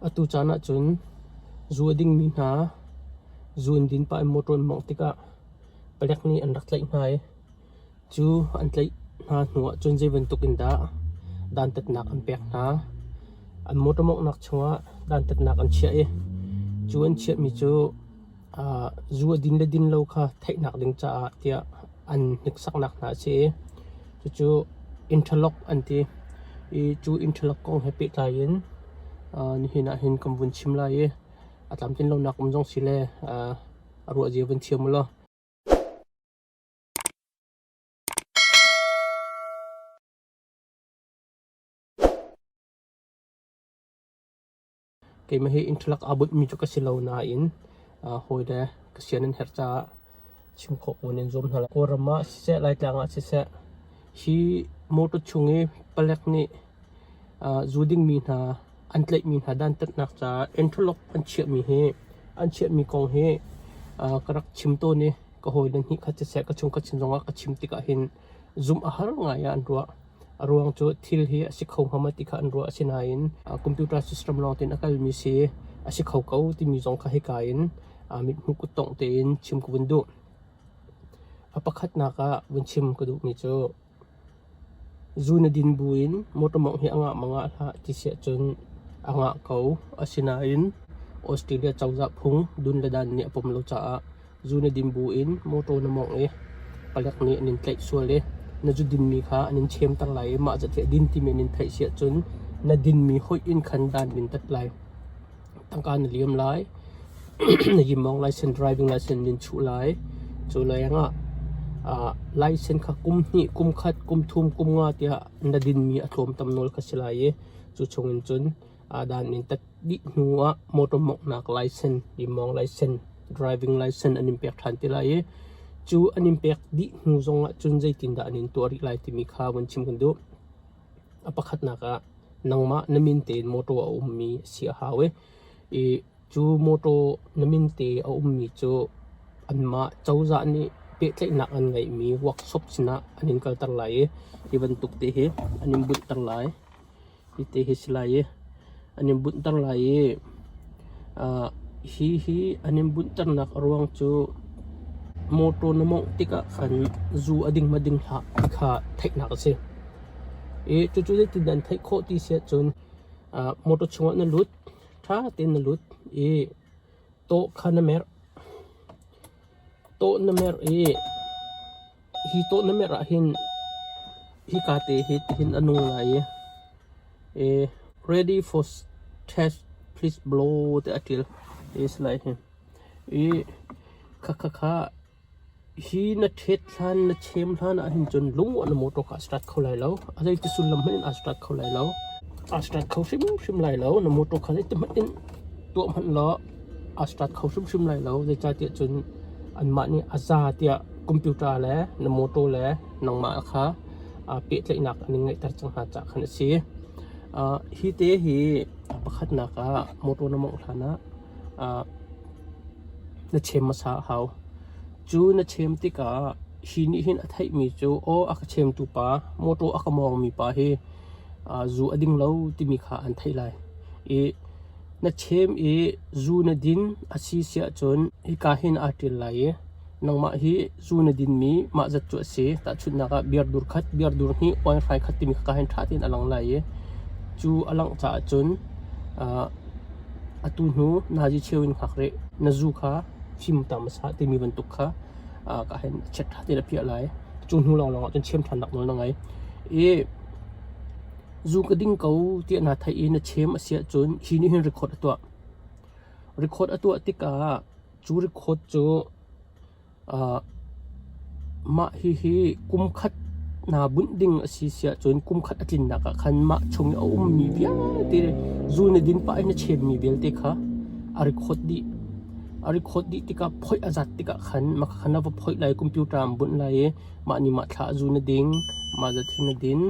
Atu caan ahcun zu a dingmi hna zu an din pah i motor an mawngh tikah palek nih an rak tlaih hna i cu an tlaih hna hnu ahcun zei bantuk in dah dantatnak an pek hna. An motor mawnghnak chungah dantatnak an chiah i cu an chiahmi cu zu a din le din lo kha theihnak ding caah tiah an hniksaknak hna a si i cucu interlock an ti i cu interlock kong he pehtlai in nihin ah hin kan vun chim lai i a tlamtlin lonak um zong si le a ruahzia vun thiam ulaw Keimah hi inthalak aa bunhmi cu ka si lo nain hawile ka sian an herh caah chim khawh ko nan zuam hna lai. Kawlram ah siseh, Laitlang ah siseh, hi motor chung i palek nih zu dingmi hna an tlaihmi hna dantatnak caah interlock an chiahmi hi an chiahmi kong hi ka rak chim tawn i ka hawile nih khat siseh ka chung ka chim zongah ka chim tikah hin zumh a har ngai ah an ruah. A ruang cu thil hi a si kho ngam ti kha an ruah. Asinain computer system lawng tein a kalmi si a si kho ko timi zong kha hika in mithmuh kuttongh tein chim ka vun duh. A pakhatnak ah vun chim ka duhmi cu zu na din bu in motor mawngh hi a ngah mang ah hlah ti si ahcun a ngah ko. Asinain Australia cozah phung dun le dan nih a pom lo caah Zu na din buin mawṭaw na mawngh i palek nih an in tlaih sual i na zu dinmi kha an in chemter lai i mah catiah din timi an in theih si ahcun na dinmi hoih in khan dan in tat lai. Tangka na liam lai, na yimmawng laisen, driving laisen in in chuh lai. Cu lengah ah laisen kha kum hnih, kum khat, kum thum, kum nga tiah na dinmi a tlawm tam nawl kha si lai i cu chungin cun Aa dan mintat dih hnu ah motor mawnghnak license, limawng license, driving license an in pek ṭhan ti lai i cu an in pek dih hnu zong ahcun zeitindah an in tuah rih lai timi kha vun chim kan duh. A pakhatnak ah nangmah na min tein motor a ummi a si a hau i i cu motor na min te a ummi cu anmah cozah nih pehtlaihnak an ngeihmi workshop sinah an in kalter lai i hi bantuk te hi an in bunhter lai. Hiti hi a si lai i an in bunhter lai i uh, hi hi an in bunhternak a ruang cu motor na mawngh tikah khan zu a ding ma ding hlah ti kha theihnak a si. I cucu zeitindah an theih khawh ti si ahcun uh, motor chungah na lut, ṭha tein na lut i tawh kha na merh. Tawh na merh i Hi tawh na merh ahhin hika te hi tihin a nung lai i, i ready for test please blow te a ṭil hi a si lai hin. I khakha kha hi na ṭhet hlan, na chem hlan ahhin cun lunguah na motor kha a start kho lai lo. A zeiti sullam hmanh in aa start kho lai lo. Aa start kho hrimhrim lai lo. Na motor kha zeiti hmanh in tuah hmanh law a start kho hrimhrim lai lo. Zeicahtiah cun anmah nih a za tiah computer le na mawtaw le nangmah kha pehtlaihnak an in ngeihter cang hna caah khan a si. Uh, hi te hi pakhatnak ah mawtaw na mawngh hlan ah uh, na chem hmasa a hau. Cu na chem tikah hi nih hin a theihmi cu aw a ka chemtu pa, mawtaw a ka mawngmi pa hi uh, zu a ding lo timi kha an theih lai i Na ṭhem i zu na din a si siahcun hika hin aa ṭil lai i nangmah hi zu na dinmi mah zat cu a si. Tahchunhnak ah biardur khat, biardur hnih, oaihrai khat timi kha ka hei ṭha tein a lang lai i cu a langh caah cun atu hnu nazi cheu in hngak rih, na zu kha fimtam a sah timi bantuk kha ka hei chiat ṭha tein a phiah lai. Cu hnu lawnglawng ahcun ṭhiam ṭhannak nawl na ngei. I Zu ka ding ko tiah naa theih i na chem a si ahcun hi nih hin record a tuah. Record a tuah tikah cu record cu aa mah hihi kum khat naa bunh ding a si si ahcun kum khat a tlinnak ah khan mah chung i a ummi vialte zu na din pah i na chemmi vialte kha a record dih. A record dih tikah phoih a zat tikah khan mah kha na va phoih lai i computer ah an bunh lai i mah nih mah thla a zu na ding, mah zat hi na din.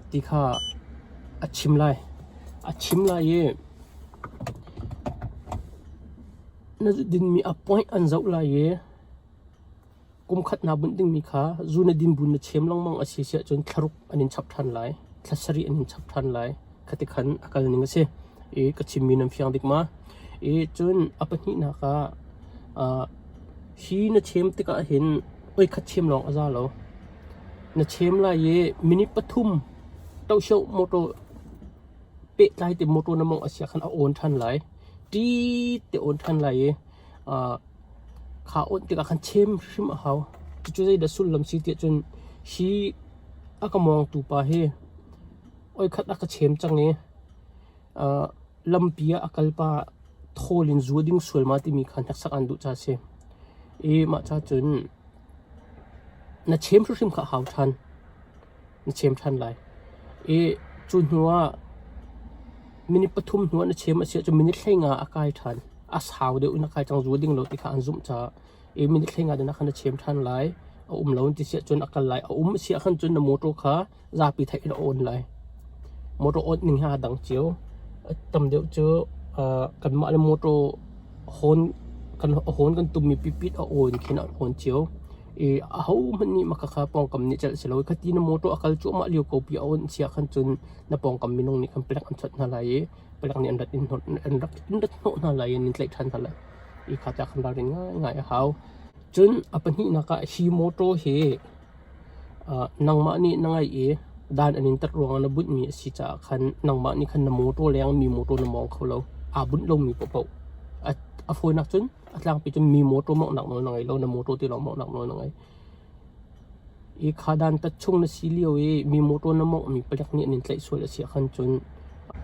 Ti kha a chim lai. A chim lai i na dinmi a point an zoh lai i kumkhatnak bunh dingmi kha zu na din bu na chem lengmang a si siahcun thlaruk an in chap ṭhan lai. Thla sarih an in chap ṭhan lai. khati khan a kal ning a si i ka chimmi nan fiang dik ma? I cun a pahnihnak ah uh, hi na chem tikah hin oikhat chem lawng a za lo. Na chem lai i minute pathum toshio motor pehtlai te motor na mong asia khan a on than lai. Ti te on than lai i uh, kha on tikah khan chem hrim a hau. Cucu zei da sullam si tiah cun hi a ka mawngtu pa hi oikhat a ka chem cang i uh, lampi ah a kal pa thawl in zuo ding sual ma timi kha hneksak an duh ca si i mah ca cun na chem hrimhrim kha hau ṭhan na chem ṭhan lai i cu hnu ah minute pathum hnu na chem a si ahcun minute thlenga a kai ṭhan a sau deuh na kai cang zuo ding lo ti kha an zumh caah i minute thlenga dina khan na chem ṭhan lai a um lo ti si ahcun a kal lai a um si ahkhan cun na motor kha zapi theih in a awn lai. Motor awnh ning hi aa dang cio. Tam deuh cu kanmah le motor hawn kan hawn kan tummi pipit a awn khin an hawn cio. I ahohmanh nih makhakha pawngkam nih celh si lo. Khati na motor a kal cuahmah lio ko pi a awn siah khan cun na pawngkam minung nih kan pelek an chawnh hna lai i pelek nih an rat in an rak in rat hnawh hna lai i an in tlaih ṭhan hna lai. I kha tiah khan ralrin ngaingai a hau. Cun a pahnihnak ah hi motor hi Nangmah nih na ngaih i dan an in tat ruangah na bunhmi a si caah khan nangmah nih khan na mawṭaw leng mi mawṭaw na mawng kho lo. Aa bunh lomi paoh paoh. A fawinak cun a tlangpi cun mi mawṭaw mawnghnak nawl na ngei lo, na mawṭaw ti lawng mawnghnak nawl na ngei. Hi kha dantat chung na si lio i mi mawṭaw na mawnghmi palek nih an in tlaih sual a si ahkhan cun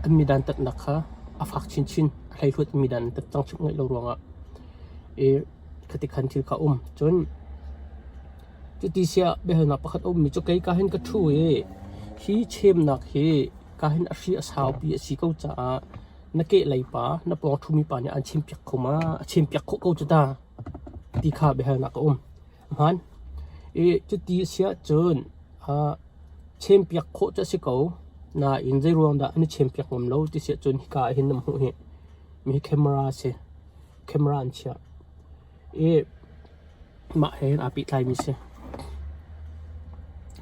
an midantatnak kha a fak chinchin. A hleihluat in midan an tat cang chih ngaih lo ruangah. I khatikhan thil kha a um. Cun Cuti siah biahalnak pakhat a ummi cu kei ka hin ka ṭhu i hi chemnak hi ka hin a hri a saupi a si ko caah na kehlei pa, na pawng ṭhumi pa nih aan chimpiak kho ma? A chimpiak khawh ko cu ta, ti kha biahalnak a um. Hmaan. I cuti a siah cun ah chempiak khawh cu a si ko. Nain zeiruangdah an i chempiak ngam lo ti siah cun hika ah hin nan hmuh hi. Mi hi camera a si. Camera an chiah. i mah he hin aa pehtlaimi a si.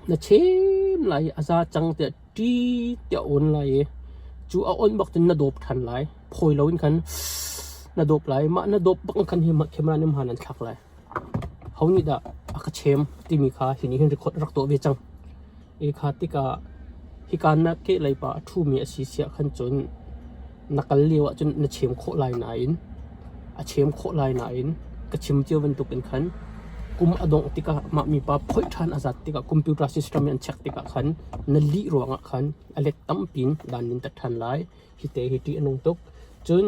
Na chem lai i a za cang tiah ṭi tiah a awn lai i cu a awn bak cun na dawp ṭhan lai. Phawi loin khan na dawp lai. Mah na dawp bak khan hi khamera nih hmaan an thlak lai. Ho nih dah a ka chem timi kha hi nih hin record a rak tuah ve cang. Ekha tikah hika na kehleipa a ṭhumi a si siah khan cun na kal lio ah cun na chem khawh lai nain a chem khawh lai nain ka chim cio bantukin khan kum a dongh tikah mah mipa phoih ṭhan a zat tikah computer system in an check tikah khan na lih ruangah khan a let tampi in dan in tat ṭhan lai. Hite hi ṭih a nung tuk. Cun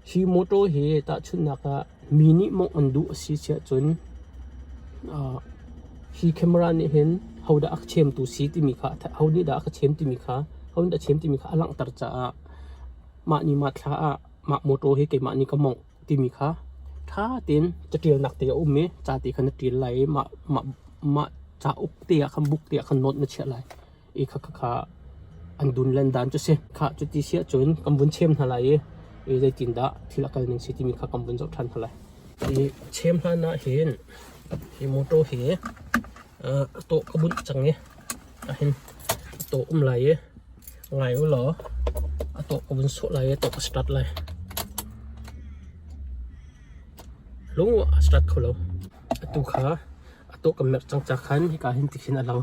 hi mawṭaw hi tahchunhnak ah mi nih mawngh an duh a si si ahcun uh, hi camera nih hin hodah a chemtu si timi kha ho nih dah a ka chem timi kha ho nih dah a chem timi kha a langhter caah mah ni mah thla ah mah mawṭaw hi keimah nih ka mawngh timi kha ṭha tein caṭialnak te a um i ca te khan na ṭial lai i mah mah mah cauk te ah khan buk te ah khan note na chiah lai. i khakha an dun len dan cu si. Khah cu ti si ahcun kan vun chem hna lai i, i zeitindah thil a kal ning si timi kha kan vun zoh ṭhan hna lai. Hi chem hlan ahhin hi motor hi uh, tawh ka bunh cang i ahin a tawh um lai i ngai u law a tawh ka vun sawh lai i tawh ka start lai. Lung a start kho lo. Atu kha a tawh ka merh cang ca khan hika hin tikhin a lang.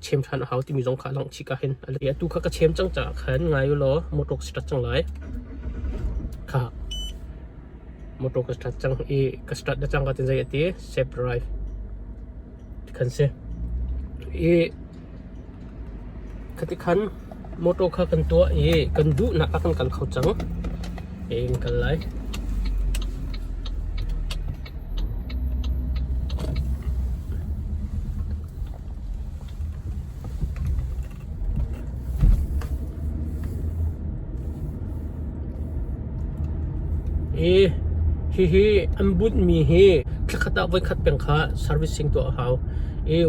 chem ṭhan a hau timi zong kha a langh chih ka hin. Atu kha ka chem cang caah khan ngai u law motor ka start cang lai. Kha motor ka start cang i ka start na cang ka tin zei ati save drive khan si. I khati khan Motor kha kan tuah i kan duhnak ah kan kal kho cang. Tein in kal lai. Hihi an bunhmi hi thlakhat ah voikhat peng kha servicing tuah a hau.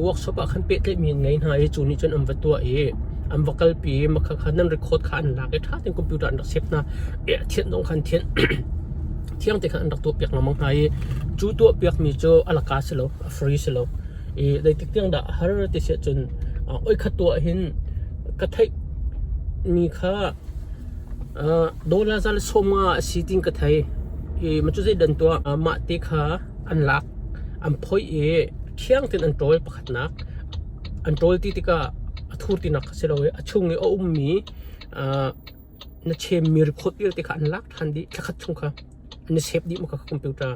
Workshop ah khan pehtlaihmi an ngei hna i cu nih cun an va tuah i an va kalpi. Mahka khan an record kha an lak i ṭha tein computer an rak save hna. Thianh dong khan thianh, thiang te khan an rak tuahpiak lengmang hna i cu tuahpiakmi cu a la ka si lo, a free si lo. Zeitik tiang dah a har ti siah cun oi khat tu ah hin ka theihmi kha Dollar za le sawm nga a si tiin ka thei. Macu zeidan tuah mah te kha an lak, an phoih i ṭhiang tein an ṭawl pakhatnak. An ṭawl ti tikah a thur tinak a si lo i a chung i a ummi na chemmi rikhawt vialte kha an lak ṭhan dih thla khat chung kha. An i sep dih mahka computer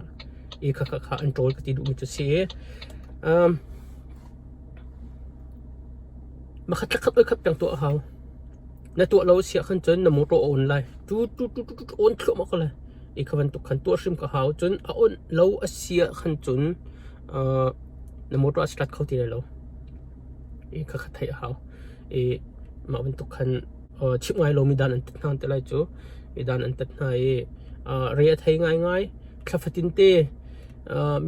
i khakha kha an ṭawl ka ti duhmi cu a si. Mahka thla khat voikhat peng tuah a hau. Na tuah lo siah khan cun na mawṭaw a on lai. Cu cu cu cu on thluahmah ko lai. Hi kha bantuk khan tuah hrim ka hau. Cun a on lo a siah khan cun uh, na mawṭaw a si hlat kho ti lai lo. I kha kha theih a hau. I mah bantuk khan uh, chimh ngai lomi dan an tat hna te lai cu. I dan an tat hna i uh, re a thei ngaingai. Thlafatin te uh,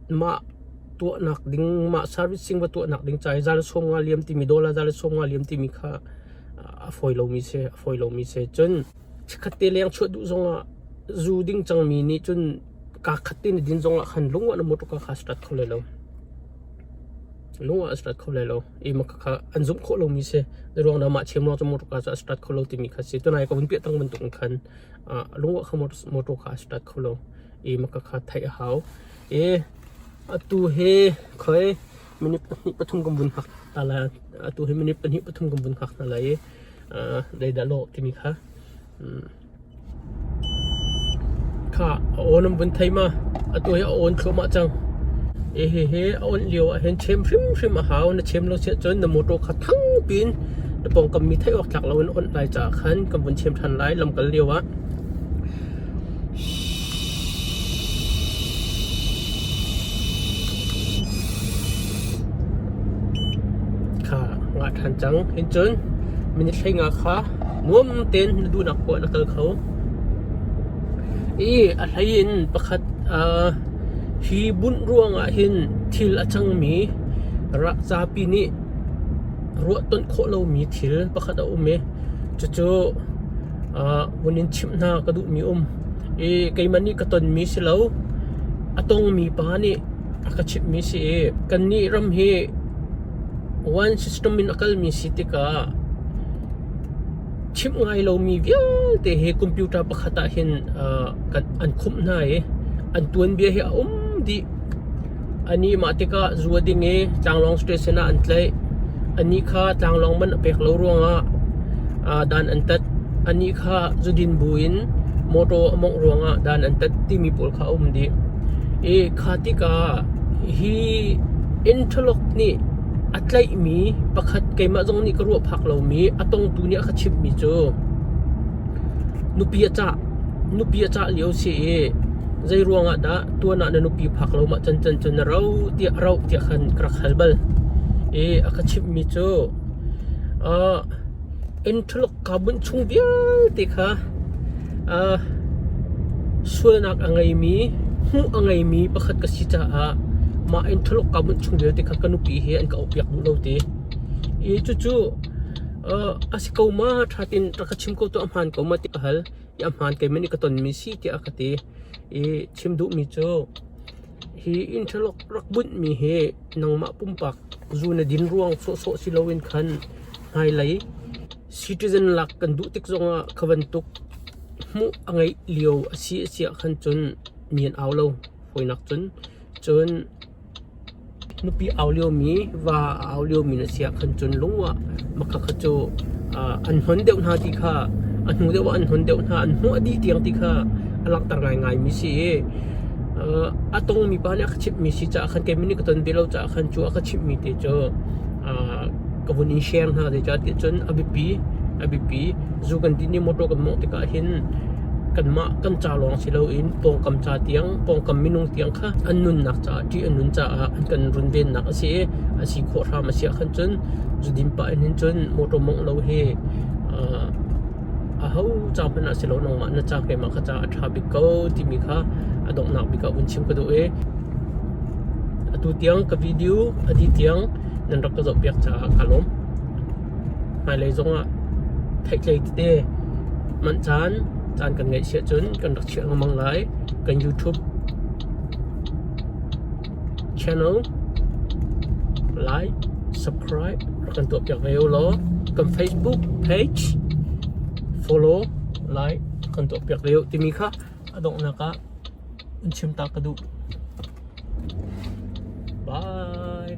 mah tuahnak ding mah servicing va tuahnak ding ca i zan sawm nga liam timi dollar zan sawm nga liam timi kha a fawi lomi si a fawi lomi si cun chikkhat te leng chuah duh zongah zu ding cangmi nih cun kaa khat te na din zongah khan lungah na mawṭuk kha strat kho lai lo lungah a strat kho lai lo i mah kha an zumh khawh lomi si ruang dah mah chem lawng cu mawṭuk ca cu a strat kho lo timi kha si tunai ka vun piah tang bantuk in khan a lung ah khan motor kha a si tat kho lo. I maka kha theih a hau. I atu hi khoi minute pahnih pathum kan vun hngak hna lai. Atu hi minute pahnih pathum kan vun hngak hna lai i uh, leidah lawh timi kha. Mm. Kha a awn an vun thei ma. Atu hi a awn thluahmah cang. I hi hi a on lio ah hin chem hrimhrim a hau. Na chem lo siah cun na motor kha thang pin Na pawngkam mi theih awk tlak lo in awnh lai caah khan kan vun chim ṭhan lai lamkal lio ah. Kha ngah ṭhan cang in cun minute thlenga kha nuam tein na duhnak poah na kal kho. I a hlei in pakhat uh, hi bunh ruang ah hin thil a cangmi rak zapi nih Ruahtonh khawh lomi thil pakhat a um i cucu vun in chimh hna ka duhmi a um. I keimah nih ka tonmi si lo, a tongmi pa nih a ka chimhmi si i kannih ram hi one system in a kalmi si tikah chimh ngai lomi vialte hi computer pakhat ahhin an khumh hna i an tuanbia hi a um dih. Anih mah tikah zua ding i tlanglawng station ah an tlaih. Anih kha tlanglawng man a pek lo ruangah aa dan an tat. Anih kha zudin buin mawṭaw a mawngh ruangah dan an tat timi pawl kha a um dih. I kha tikah hi interlock nih a tlaihmi pakhat keimah zong nih ka ruah phak lomi a tongtu nih a ka chimhmi cu nupi a cah. Nupi a cah lio a si i Zeiruangah dah tuan ah na nupi phak lomah cancan cu na ro tiah roh tiah khan ka rak hal bal. I a ka chimhmi cu ah Ntholuk kaa bunh chung vialte kha ah sualnak a ngeimi, hmuh a ngeimi pakhat ka si caah mah Ntholuk kaa bunh chung vialte kha ka nupi he an ka auhpiak duh lo ti. I cucu ah a si ko ma ṭha ti'n rak ka chim ko tuah hmaan ko ma ti ka hal. ahmaan keimah nih ka tonmi si tiah ka ti i chim duhmi cu hi interlock rak bunhmi hi nangmah pumpak zu na din ruang sawhsawh si loin khan hmailei citizen lak kan duh tik zongah kha bantuk hmuh a ngeih lio a si a siah khan cun nian au lo fawinak cun cun Nupi au liomi, va a au liomi na si ahkhan cun lung ah makha kha cu an hnon deuh hna ti kha, a hnu deuh ah an hnon deuh hna. An hmuah dih tiang ti kha a langhter ngaingaimi si i a tongmi pa nih a ka chimhmi si caah khan keimah nih ka ton ve lo caah khan cu a ka chimhmi te cu ka vun in share hna zeicah tiah cun a biapi a biapi zu kan ti nih mawṭaw kan mawngh tikah hin kanmah kan ca lawng si loin pawngkam ca tiang pawngkam minung tiang kha an nunnak caah ṭih an nun caah an kan runvennak a si i a si khawh hram a si ahkhan cun zudim pah in hin cun mawṭaw mawngh lo hi aho ca hmanh ah si lo nangmah na ca keimah kha ca a ṭha bik ko timi kha a donghnak bik ah vun chim ka duh i atu tiang ka video a dih tiang nan rak ka zohpiak caah ka lawm. Hmailei zongah theihtlei tete manh caan caan kan ngeih si ahcun kan rak chiah lengmang lai. Kan YouTube channel like, subscribe rak kan tuahpiak ve ulaw kan Facebook page follow, like rak kan tuahpiak ve u timi kha A donghnak ah an chim ta ka duh. Bye!